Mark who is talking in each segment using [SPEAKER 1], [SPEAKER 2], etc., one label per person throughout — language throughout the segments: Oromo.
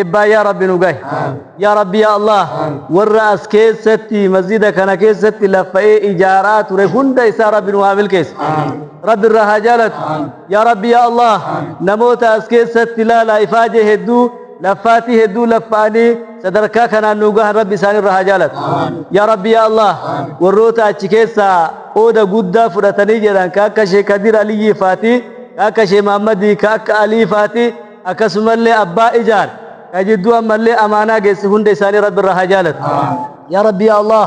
[SPEAKER 1] eebbaa yaa rabbi nu gahe yaa rabbi yaa allah warra as keessatti masjida kana keessatti laffa'ee ijaaraa ture hunda isaa rabbi nu haa milkeessu rabbi irraa haa jaalatu yaa rabbi yaa allah namoota as keessatti laalaa ifaajee hedduu laffaatii hedduu laffa'anii sadarkaa kanaan nu gahan rabbi isaan irraa haa jaalatu yaa rabbi yaa allah warroota achi keessaa qooda guddaa fudhatanii jedhan ka akka sheekh kadir aliyyii faatii ka akka sheekh mahammadii ka akka alii faatii akkasumallee abbaa ijaan ka jidduu ammallee amaanaa geesse hunda isaanii rabbi irraa haa jaalatu yaa rabbi yaa allah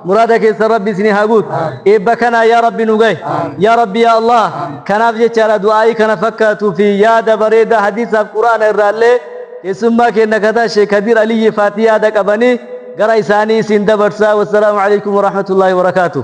[SPEAKER 1] muraada keessan rabbi isinii haa guutu eebba kanaa yaa rabbi nu gahe yaa rabbi yaa allah kanaaf jechaadha du'aa'ii kana fakkaatuu fi yaada bareedaa hadiisaaf quraana irraallee keessummaa keenna kataa sheek kadiir aliyyi faati yaada qabanii gara isaanii isin dabarsaa wassalaamu alaikum warahmatullaahi wabarakaatuh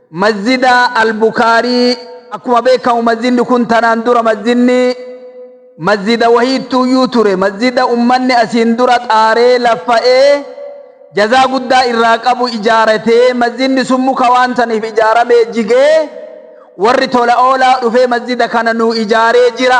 [SPEAKER 2] Masjida Al-Bukhaarii, Akkuma beekkamu masjidni kun tanaan dura masjidni masjida wahiittuuyyuu ture. Masjida ummanni asiin dura xaaree laffa'ee jazaa guddaa irraa qabu ijaarate. Masjidni sun muka waan saniif ijaaramee jigee warri tola oolaa dhufee masjida kana nuu ijaaree jira.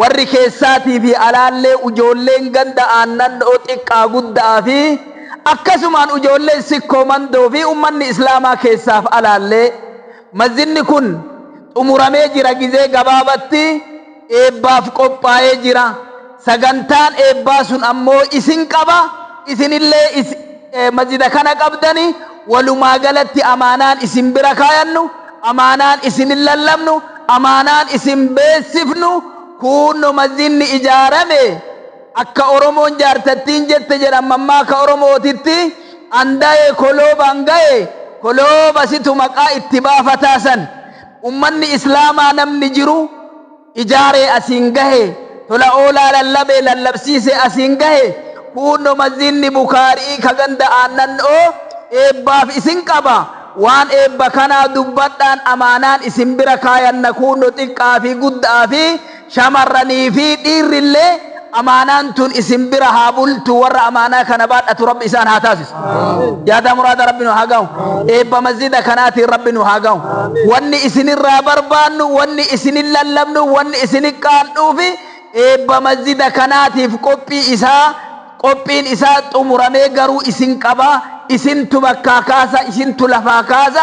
[SPEAKER 2] Warri keessaatii fi alaallee ujoolleen ganda aannan'oo xiqqaa gudda'aa fi akkasumaan ujoolleen sikkoo mandoo fi ummanni islaamaa keessaaf alaallee masjidni kun xumuramee jira gizee gabaabatti eebbaaf qophaayee jira sagantaan eebbaa sun ammoo isin qaba isinillee masjida kana qabdani walumaa galatti amaanaan isin bira kaayannu Amaanaan isin lallabnu, amaanaan isin beeksifnu kuunno masjidni ijaarame akka Oromoon jaartattiin jette jedhan mammaaka Oromootitti Andaye koloobaan gaye kolooba situ maqaa itti baafataa san. Ummanni Islaamaa namni jiru. ijaaree asiin gahe, tola oolaa lallabee lallabsiisee asiin gahe, kuunno Masjiidni Bukhaari'ii ka ganda Aannan'oo eebbaaf isin qaba, waan eebba kanaa dubbadhaan amaanaan isin bira kaayanna kuunno xiqqa'aa fi gudda'aa fi shamarranii fi dhiirrillee, amaanaan tun isin bira haa bultu warra amaanaa kana baadhatu rabbi isaan haa taasisu yaadaa muraada rabbi nu haa gahu eebba masjida kanaatiin rabbi nu haa gahu wanni isinirraa barbaannu wanni isinin lallabnu wanni isinin qaandhuufi eebba masjida kanaatiif qophii isaa qophiin isaa xumuramee garuu isin qaba isintu bakkaa kaasa isintu lafaa kaasa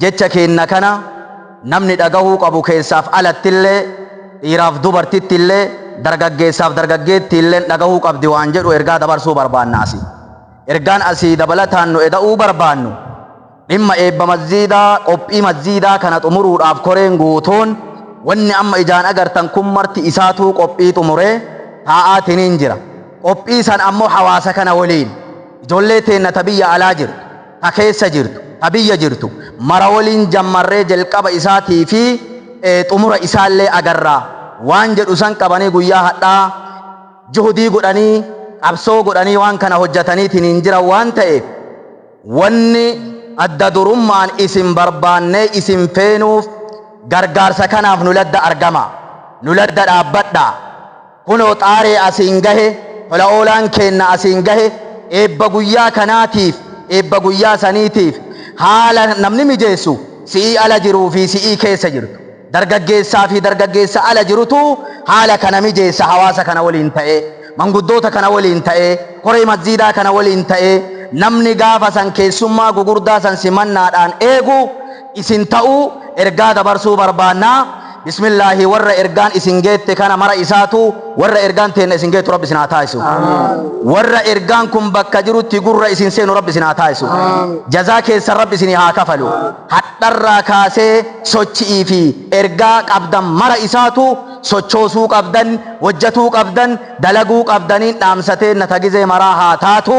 [SPEAKER 3] Jecha keenna kana namni dhagahuu qabu keessaaf alattillee, dhiiraaf dubartittillee, dargaggeessaaf dargaggeettiilleen dhagahuu qabdi waan jedhu ergaa dabarsuu barbaanna asii. Ergaan asii dabalataan nu eda'uu barbaannu, dhimma eebba masjiidaa, qophii masjiidaa kana xumuruudhaaf koreen guutuun wanni amma ijaan agartan kun marti isaatuu qophii xumuree taa'aatiniin jira. Qophii san ammoo hawaasa kana waliin, ijoollee teenna ta biyya alaa jirtu, ta keessa jirtu, ta biyya jirtu mara woliin jammarree jelqaba isaatii fi xumura isaallee agarra waan jedhu san qabanii guyyaa hadhaa juhudii godhanii qabsoo godhanii waan kana hojjataniitiniin jiran waan ta'eef wanni adda durummaan isin barbaannee isin feenuuf gargaarsa kanaaf nu ladda argama, nu ladda dhaabbadha. Kunoo xaaree asiin gahe, tola oolaan keenna asiin gahe, eebba guyyaa kanaatiif, eebba guyyaa saniitiif haala namni mijeessu si'ii ala jiruu fi si'ii keessa jirtu, dargaggeessaa fi dargaggeessa ala jirutu haala kana mijeessa hawaasa kana waliin ta'ee, manguddoota kana waliin ta'ee, koree masjiidaa kana waliin ta'ee, namni gaafa san keessummaa gugurdaa san simannaadhaan eegu, isin ta'uu ergaa dabarsuu barbaanna. Bismillaahi warra ergaan isin geette kana mara isaatu warra ergaan teenna isin geettu Rabbi isin haa taasisu. Warra ergaan kun bakka jirutti gurra isin seenu Rabbi isin haa taasisu. Jazaa keessan Rabbi isinii haa kafalu. Hadharraa kaasee sochi'ii fi ergaa qabdan mara isaatu sochoosuu qabdan, wojjatuu qabdan, dalaguu qabdaniin dhaamsa teenna ta gizee maraa haa taatu.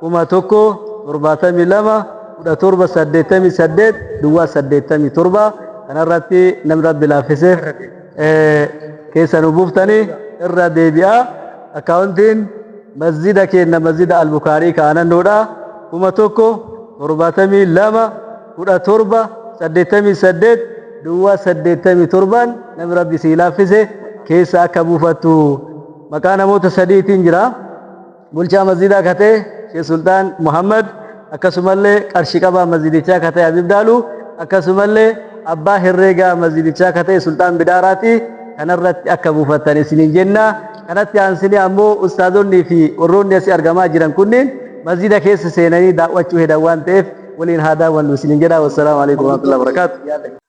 [SPEAKER 1] kuma tokko torbaatamii lama kudha torba saddeettamii saddeet duwwaa saddeettamii torba kanarratti namni rabbi laaffiseef keessa nu buuftanii irra deebi'aa akkaawuntiin masjida keenna masjida albukaarii kaanannoodha kuma tokko torbaatamii lama kudha torba saddeettamii saddeet duwwaa saddeettamii torbaan namni rabbi sii laaffise keessa akka buufattu maqaa namoota sadiitiin jira. bulchaa masjidaa ka ta'e Sheekh Sultaan Muhammad akkasumallee qarshi qabaa masjidichaa ka ta'e Habib Daalu akkasumallee abbaa herreegaa masjidichaa ka ta'e Sultaan Bidaaraati kanarratti akka buufattan isiniin jenna kanatti aansinee ammoo ustaazonnii fi warroonni asii argamaa jiran kunniin masjida keessa seenanii daawwachuu hedan waan ta'eef waliin haa daawwannu isiniin jedha wassalaamu alaikum warahmatullahi wabarakaatu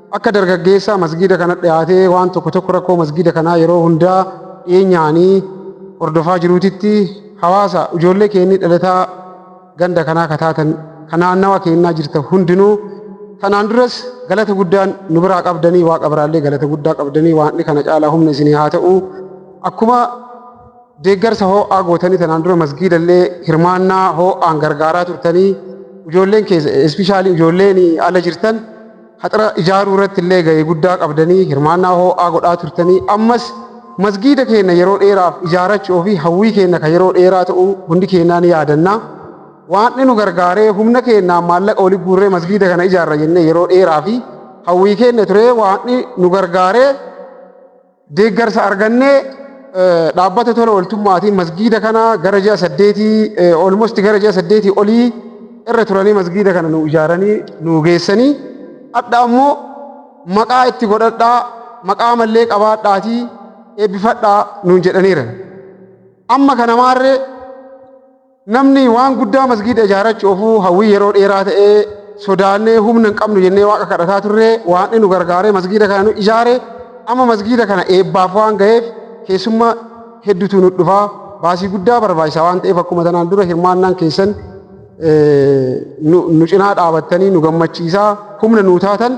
[SPEAKER 4] Akka dargaggeessaa masgiida kana dhiyaatee waan tokko tokko rakkoo masgiida kanaa yeroo hundaa dhiyeenyaanii hordofaa jiruutitti hawaasa ijoollee keennii dhalataa ganda kanaa kataatan kan naannawa keennaa jirta hundinuu tanaan duras galata guddaan nu biraa qabdanii waaqa biraallee galata guddaa qabdanii waanni kana caalaa humna isinii haa ta'u akkuma deeggarsa hoo'aa gootanii tanaan dura masgiidallee hirmaannaa hoo'aan gargaaraa turtanii ijoolleen keessa espishaalii ijoolleen ala jirtan haxira ijaaruu irratti illee ga'ee guddaa qabdanii hirmaannaa hoo'aa godhaa turtanii ammas masgiida keenya yeroo dheeraaf ijaarachuu fi hawwii keenya kan yeroo dheeraa ta'uu hundi keenyaa ni yaadanna. Waaqni nu gargaaree humna keenyaan maallaqa wali guurree masgiida kana ijaarra jennee yeroo dheeraa fi hawwii keenya turee waaqni nu gargaaree Deeggarsa arganne dhaabbata tola ooltummaatiin masgiida kana gara ji'a saddeetii olmosti gara ji'a saddeetii olii irra turanii masgiida kana nu ijaaranii nu geessanii hadha ammoo maqaa itti godhadhaa maqaa mallee qabaadhaatii eebbifadhaa nuun jedhaniiran. Amma kana maarree Namni waan guddaa masgiida ijaarachu ofuu hawwii yeroo dheeraa ta'e sodaannee humna hin qabnu jennee waaqa kadhataa turre waaqni nu gargaaree masgiida kana nu ijaare amma masgiida kana eebbaaf waan gaheef keessumma heddutu nu dhufa baasii guddaa barbaachisa waan ta'eef akkuma tanaan dura hirmaannaan keessan nu cinaa dhaabattanii nu gammachiisaa humna nuu taatan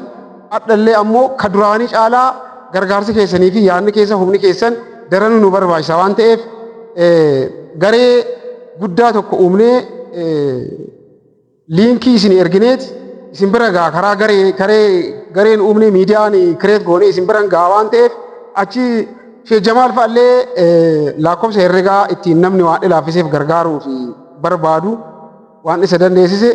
[SPEAKER 4] Hadhallee ammoo ka duraanii caalaa gargaarsi keessanii fi yaadni keessa humni keessan daranuu nu barbaachisa waan ta'eef garee guddaa tokko uumnee liinkii isin ergineeti isin bira gaa karaa garee garee gareen uumne miidiyaan kireet goone isin biran gaa waan ta'eef achi Sheekh Jamaal fa'allee lakkoofsa herregaa ittiin namni waan ilaafiseef gargaaruu fi barbaadu Waan isa dandeessise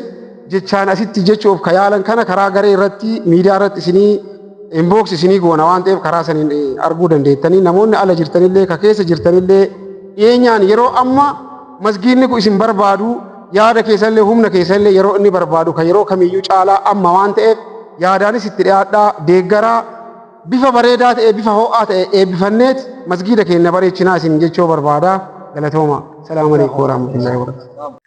[SPEAKER 4] jechaan asitti jechuuf ka yaalan kana karaa garee irratti miidiyaa irratti isinii inbox isinii goona waan ta'eef karaa saniin arguu dandeettanii namoonni ala jirtanillee ka keessa jirtanillee dhiyeenyaan yeroo amma masgiinni kun isin barbaadu yaada keessanillee humna keessanillee yeroo inni barbaadu ka yeroo kamiyyuu caalaa amma waan ta'eef yaadaanis itti dhiyaadhaa deeggaraa bifa bareedaa ta'e bifa ho'aa ta'e eebbifanneet masgiida keenya bareechinaa isin jechoo barbaada galatooma salaamu alaikum warahmatullahi wabarakatuh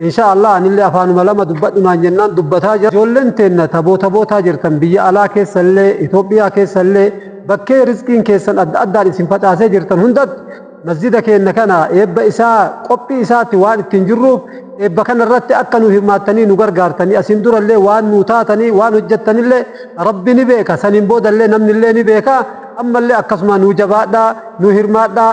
[SPEAKER 5] Insha Allah anillee afaanuma lama dubbadhu naan jennaan dubbataa jira. Ijoolleen teenna taboo tabootaa jirtan biyya alaa keessallee, Itoophiyaa keessallee bakkee rizqiin keessan adda addaan isin facaasee jirtan hundatti masjida keenna kana eebba isaa qophii isaatti waan ittiin jirruuf eebba kana irratti akka nu hirmaattanii nu gargaartanii asiin durallee waan nu taatanii waan hojjettanillee rabbi ni beeka saniin boodallee namnillee ni beeka ammallee akkasuma nu jabaadhaa nu hirmaadhaa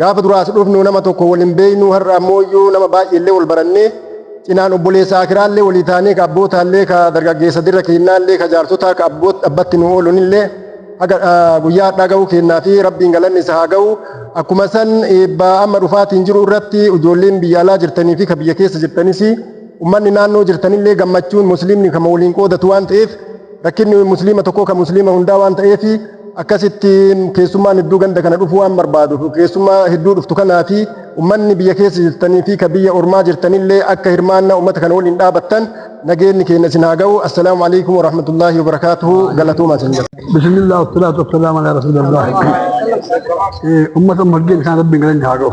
[SPEAKER 6] Gaafa dura as dhufnu nama tokko wal hin beeknu har'a ammooyyuu nama baay'eellee wal barannee cinaan obboleessa Aakiraallee walii taanee ka abbootaallee ka dargaggeessa dirra keennaallee ka jaarsotaa ka abbatti nu oolunillee haga guyyaa hadhaa ga'uu keennaa fi rabbiin galanni isa haa ga'u akkuma san eebbaa amma dhufaatiin jiru irratti ijoolleen biyya alaa jirtanii fi ka biyya keessa jirtanis ummanni naannoo jirtanillee gammachuun musliimni kama waliin qoodatu waan ta'eef rakkinni musliima tokkoo ka musliima hundaa waan ta'eef Akkasitti keessummaan hedduu ganda kana dhufuu waan barbaaduuf keessummaa hedduu dhuftu kanaati ummanni biyya keessa jirtanii fi ka biyya ormaa jirtanillee akka hirmaannaa ummata kana waliin dhaabattan nageenni keenya isin haa ga'u. Assalaamu alaikum wa rahmatullaahi wa barakaatuhu galatooma isin jedha. Bismillah wassalatu
[SPEAKER 5] wassalamu ala rasulillah. Ummata margeen isaan rabbiin galanii haa ga'u.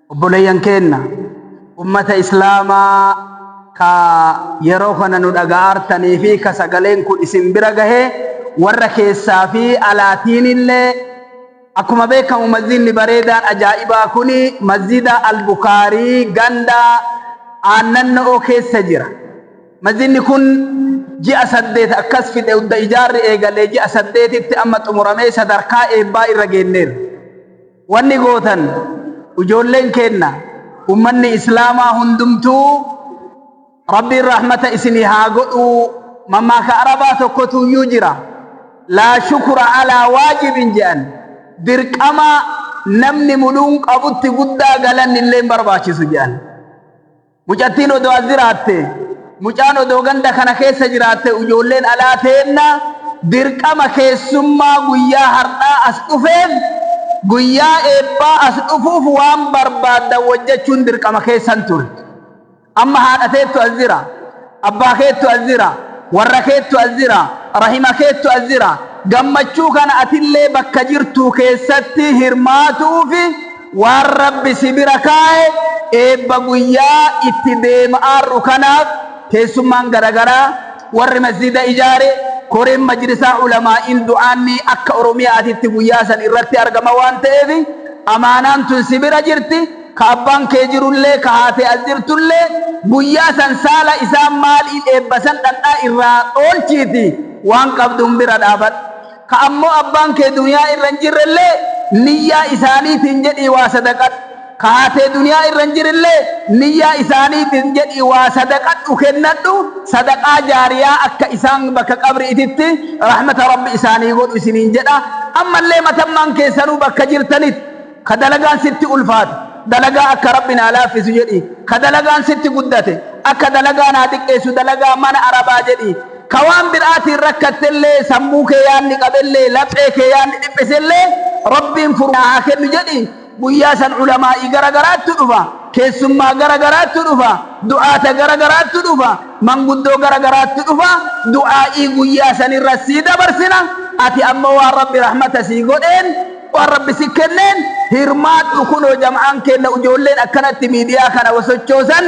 [SPEAKER 2] Obboleeyyan keenna ummata islaamaa ka yeroo kana nu dhaga'aartanii fi ka sagaleen kun isin bira gahe warra keessaa fi alaatiinillee akkuma beekkamu masjiidni bareedaan ajaa'ibaa kun masjiida Al-Bukaarii ganda Aannanno'oo keessa jira. Masjiidni kun ji'a saddeet akkas fixe udda ijaarri eegalee ji'a saddeetitti amma xumuramee sadarkaa eebbaa irra geenneerra. Wanni gootan ijoolleen keenna ummanni islaamaa hundumtuu Rabbiin rahmata isinii haa godhuu mammaaka arabaa tokkotuuyyuu jira laa shukura alaa waajibin je'an dirqama namni muluun qabutti guddaa galanni illee hin barbaachisu je'an Mucattiin odoo as jiraatte, mucaan odoo ganda kana keessa jiraatte ujoolleen alaa teenna dirqama keessummaa guyyaa hardhaa as dhufeef guyyaa eebbaa as dhufuuf waan barbaaddan wojjachuun dirqama keessan turte. Amma haadha teettu as jira. Abbaa keettu as jira, warra keettu as jira, rahima keettu as jira. Gammachuu kana atillee bakka jirtuu keessatti hirmaatu'uufi waan Rabbi si bira kaa'e eebba guyyaa itti deema'aarru kanaaf keessummaan garagaraa, warri masjiida ijaare, koreen majlisaa ulamaa'iin du'aanni akka Oromiya'aatitti guyyaa san irratti argama waan ta'eef amaanaan tun si bira jirti. ka abbaan kee jirullee, ka haati as jirtullee, guyyaa san saala isaan maaliin eebbasan dhandhaa irraa dhoolchiitii waan qabduun bira dhaabadhu. Ka ammoo abbaan kee duniyaa irra hin jirrellee, niyyaa isaaniitiin jedhii waa sadaqadhu. Ka haatee duniyaa irra hin jirillee, niyyaa isaaniitiin jedhii waa sadaqadhu, kennadhu, sadaqaa jaariyaa akka isaan bakka qabri'ititti rahmata Rabbi isaanii godhu isiniin jedha. Ammallee matammaan keessanuu bakka jirtanitti. Ka dalagaan sitti ulfaate, dalagaa akka Rabbi naa laaffisu jedhii. Ka dalagaan sitti guddate, akka dalagaa naa xiqqeessu dalagaa mana Arabaa jedhii. Ka waan biraatiin rakkattellee, sammuu kee yaanni qabellee, laphee kee yaanni dhiphisellee, Rabbiin furu naa haa kennu jedhii. Guyyaa san ulamaa'ii gara garaattu dhufa, keessummaa gara garaattu dhufa, du'aata gara garaattu dhufa, manguddoo gara garaattu dhufa, du'aa'ii guyyaa sanirra sii dabarsina, ati ammoo waan Rabbi rahmata sii godheen, Waan rabbi si kenneen hirmaadhu kunoo jam'aan keenna ujoolleen akkanatti miidiyaa kana wasochoosan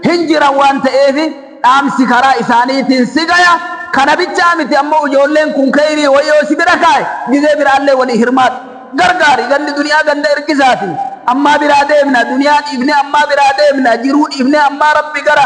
[SPEAKER 2] hin jiran waan ta'eef dhaamsi karaa isaaniitiin si gaya kana bichaa miti ammoo ujoolleen kun keyrii wayoo si bira kaaye gizee biraallee walii hirmaadhu gargaari gandi duniyaa ganda ergisaati ammaa biraa deemna duniyaa dhiifnee ammaa biraa deemna jiruu dhiifnee ammaa rabbi gara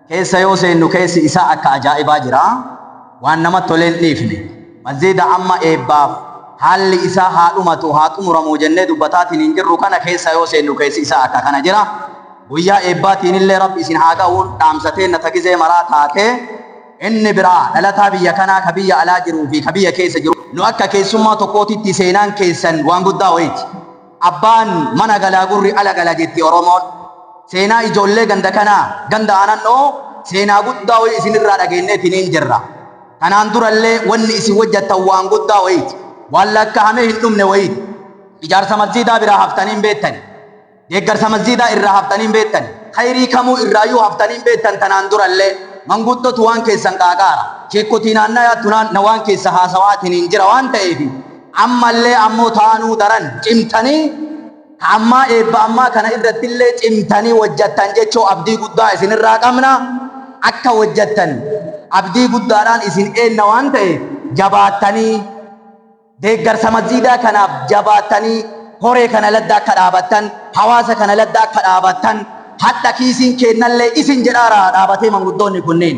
[SPEAKER 3] keessa yoo seennu keessi isaa akka ajaa'ibaa jira. Waan namatti tole hin dhiifne. Masjiida amma eebbaaf haalli isaa haa dhumatu, haa xumuramu jennee dubbataatiin hin jirru kana keessa yoo seennu keessi isaa akka kana jira. Guyyaa eebbaatiin illee Rabbi isin haa gahu, dhaamsa teenna ta gizee maraa taate. Inni biraa, dhalataa biyya kanaa ka biyya alaa jiruu fi ka biyya keessa jiru. Nu akka keessummaa tokkootitti seenaan keessan waan guddaa wayiiti. Abbaan mana galaa gurri ala gala jetti Oromoon. Seenaa ijoollee ganda kanaa, ganda Aanannoo, seenaa guddaa wayii isin irraa dhageenneetiniin jirra. Kanaan dura illee wanni isin wojjattan waan guddaa woyiiti. Waan lakkahamee hin dhumne woyiiti. Ijaarsa masjiidaa biraa haftanii hin beettani. Deeggarsa masjiidaa irraa haftanii hin beettani. Kayrii kamuu irraayyuu haftanii hin beettan tanaan dura illee. Manguddootu waan keessan qaaqaara. Sheekkotii naannayaa tunaan na waan keessa haasawaatiniin jira waan ta'eefi. Ammallee ammoo taanuu daran cimtanii ka ammaa eebba ammaa kana irrattillee cimtanii wojjattan jechoo abdii guddaa isin irraa qabna. Akka wojjattan abdii guddaadhaan isin eenna waan ta'eef jabaattanii deeggarsa masjiidaa kanaaf jabaattanii koree kana ladda akka dhaabattan, hawaasa kana ladda akka dhaabattan hadha kiisiin keennallee isin jedhaara dhaabatee manguddoonni kunniin.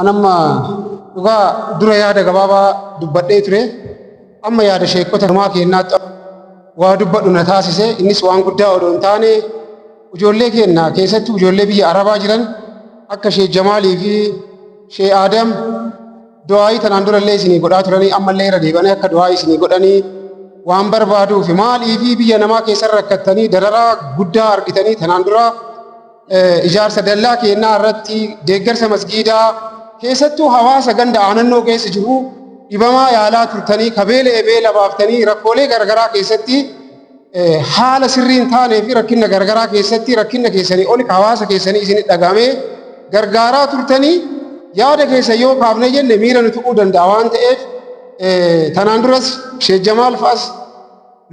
[SPEAKER 4] An amma dhugaa dura yaada gabaabaa dubbadhee ture. Amma yaada sheekkota namaa keennaatti waa dubbadhu na taasise. Innis waan guddaa odoo hin taane ijoollee keenna keessatti ijoollee biyya Arabaa jiran akka Sheek Jamaalii fi Sheek Aadam du'aayii tanaan durallee isinii godhaa turanii ammallee irra deebanii akka du'aayii isinii godhanii waan barbaaduufi maaliifi biyya namaa keessan rakkattanii dararaa guddaa argitanii tanaan duraa ijaarsa dallaa keennaa irratti deeggarsa masgiidaa keessattuu hawaasa ganda aanannoo keessa jiru dhibamaa yaalaa turtanii kabeela ebeela baaftanii rakkoolee garagaraa keessatti haala sirrii hin taanee fi rakkina garagaraa keessatti rakkina keessanii oli hawaasa keessanii isin dhagame gargaaraa turtanii yaada keessa yoo kaafne jenne miira nu tuquu danda'a waan ta'eef tanaan duras Sheek Jamaal fa'as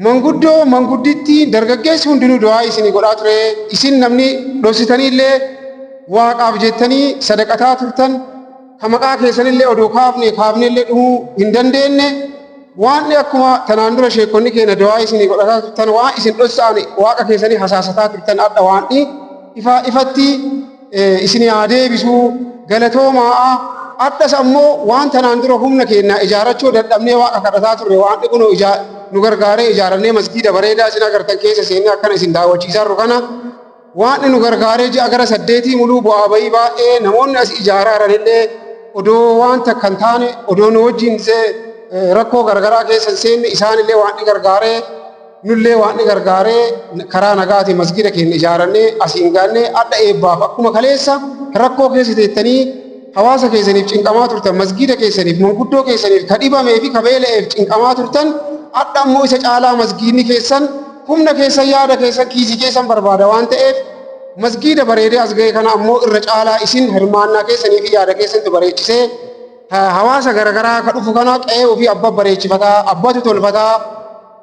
[SPEAKER 4] Manguddoo, manguddittii, dargaggeessi hundinuu du'aa'ii isinii godhaa ture, isin namni dhossitanii illee Waaqaaf jettanii sadaqataa turtan, ka maqaa keessan illee odoo kaafnee kaafnee illee dhumuu hin dandeenne, waan akkuma tanaan dura sheekkonni keenna du'aa'ii isinii godhataa turtan, waan isin dhossa'ane Waaqa keessanii hasaasataa turtan, adha waan ifaa ifatti, isin haa deebisu galatoomaa adhas ammoo waan tanaan dura humna keenya ijaarachuu dadhabnee waaqa kadhataa turre waan dhiqunoo ijaa nu gargaaree ijaarannee masgiida bareedaa isin agartan keessa seennee akkana isin daawwachiisaa jirru kana waan nu gargaaree ji'a gara saddeetii muluu bu'aa bayii baay'ee namoonni as ijaaraa jiranillee odoo waan takka hin taane odoo nu wajjin rakkoo garagaraa keessa hin seenne isaanillee waan gargaaree Nullee waan nu gargaare karaa nagaatiin masgiida keenya ijaarannee asiin gaanne adha eebbaaf akkuma kaleessa rakkoo keessa teettanii hawaasa keessaniif cinqamaa turtan masgiida keessaniif manguddoo keessaniif ka dhibamee fi ka beela'eef cinqamaa turtan adha ammoo isa caalaa masgiidni keessan humna keessan yaada keessan kiisii keessan barbaada waan ta'eef masgiida bareedee as ga'e kana ammoo irra caalaa isin hirmaannaa keessanii fi yaada keessantu bareechisee hawaasa garagaraa ka dhufu kana qe'ee ofii abba bareechifataa abbatu tolfataa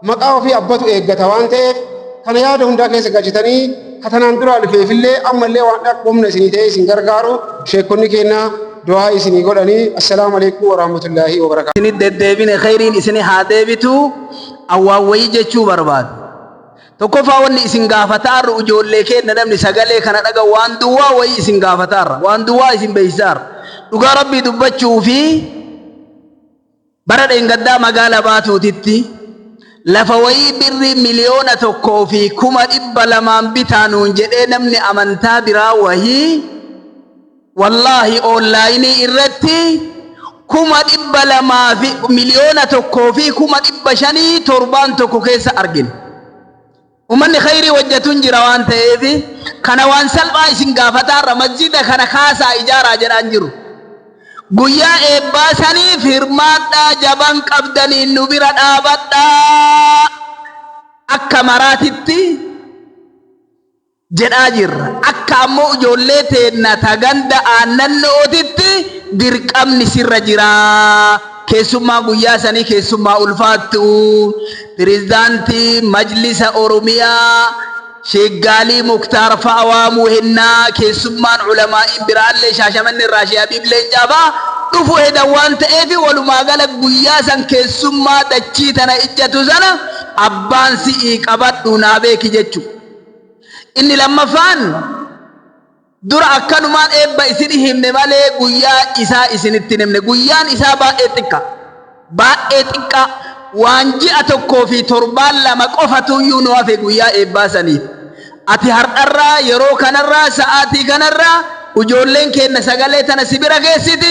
[SPEAKER 4] Maqaa ofii abbatu eeggata waan ta'eef kana yaada hundaa keessa galchitanii katanaan duraa dhufeefillee ammallee waan akka humna isinii ta'ee isin gargaaru sheekonni keenya du'aa isinii godhanii assalaamu alaikum warahmatullaahi wabarakaatu. Isinit deddeebine kheyriin
[SPEAKER 2] isini haa deebitu awwaan wayii jechuu barbaadu. Tokkoffaa wanni isin gaafataarru ijoollee keenya namni sagalee kana dhaga waan duwwaa wayii isin gaafataarra waan duwwaa isin beeysaarra dhugaa rabbii dubbachuu fi Bara dheengaddaa magaala Baatuutitti lafa wayii birrii miliyoona tokkoo fi kuma dhibba lamaan bitaa nuun jedhee namni amantaa biraa wayii wallaahi oonlaayinii irratti kuma dhibba lamaa fi miliyoona tokkoo fi kuma dhibba shanii torbaan tokko keessa argine. Ummanni khayrii hojjatun jira waan ta'eef kana waan salphaa isin gaafataa irra masjida kana kaasaa ijaaraa jedhaan jiru. Guyyaa eebbaa saniif hirmaadhaa jaban qabdaniin nu bira dhaabadhaa akka maraatitti jedhaa jirra. Akka ammoo ijoollee teenna ta ganda aannannootitti dirqamni sirra jira. Keessummaa guyyaa sanii keessummaa ulfaattuu Pireezidaantii Majlisa Oromiyaa Sheek Gaalii Muktaar fa'a waamuu hennaa keessummaan ulamaa'iin biraallee Shaashamannee irraa Sheek Habiib Leencaa fa'a dhufu hedan waan ta'eef walumaa gala guyyaa san keessummaa dachii tana ijjatu sana abbaan si'ii qabadhu naa beeki jechu. Inni lammaffaan Dura akkanumaan eebba isinii himne malee guyyaa isaa isinitti hin himne. Guyyaan isaa baay'ee xiqqa. Baay'ee xiqqaa. Waan ji'a tokkoo fi torbaan lama qofatu iyyuu nu hafe guyyaa eebbaa saniif. Ati hardharraa, yeroo kanarraa, sa'aatii kanarraa ujoolleen keenna sagalee tana si bira geessiti,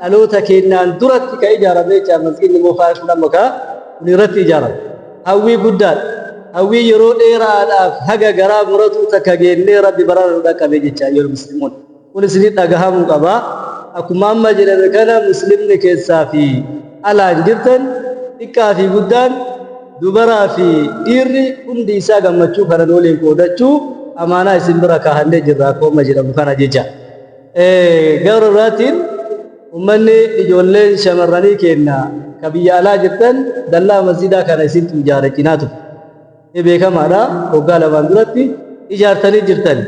[SPEAKER 1] dhaloota keennaan duratti ka ijaarame jecha masgiidni moofaa jechuun amma ka kun irratti ijaarame hawwii guddaadha hawwii yeroo dheeraadhaaf haga garaa muratuu takka geennee rabbi barana nu dhaqqabe jecha ayyuhal muslimuun kun isinii dhagahamuu qaba akkuma amma jedhame kana muslimni keessaa fi alaan jirtan xiqqaa fi guddaan dubaraa fi dhiirri hundi isaa gammachuu kanan waliin qoodachuu amaanaa isin bira kaahannee jirra akkuma jedhamu kana jecha Gara biraatiin ummanni ijoolleen shamarranii keenna ka biyya alaa jirtan dallaa masjiidaa kana isintu ijaare cinaa ture. Ni beekamaadha waggaa lamaan duratti ijaartanii jirtan.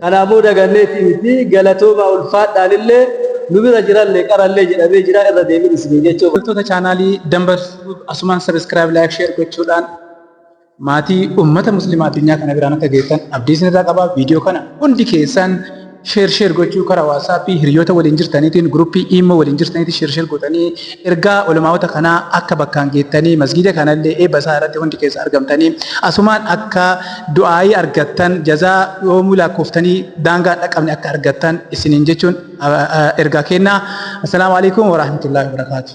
[SPEAKER 1] Kana ammoo daganneetii miti galatoomaa ulfaadhaanillee nu bira jirallee qarallee jedhamee jira irra deebiin isiniin jechuu barbaada. Hordoftoota chaanaalii
[SPEAKER 7] Dambaltube asumaan subscribe like share gochuudhaan. Maatii ummata muslimaa addunyaa kana biraan akka geettan abdii isin irraa qaba. Video kana hundi keessaan share share gochuu kara whatsapp hiryoota waliin jirtaniitiin group imo waliin jirtaniitiin share share gootanii ergaa ulamaa'ota kanaa akka bakkaan geettanii masgiida kana illee eebba isaa irratti hundi keessa argamtanii asumaan akka du'aa'ii argattan jazaa yoomuu laakkooftanii daangaa hin dhaqqabne akka argattan isiniin jechuun ergaa keennaa. Assalaamu Aleeykum Warahmatullahi Wabarakaatuh.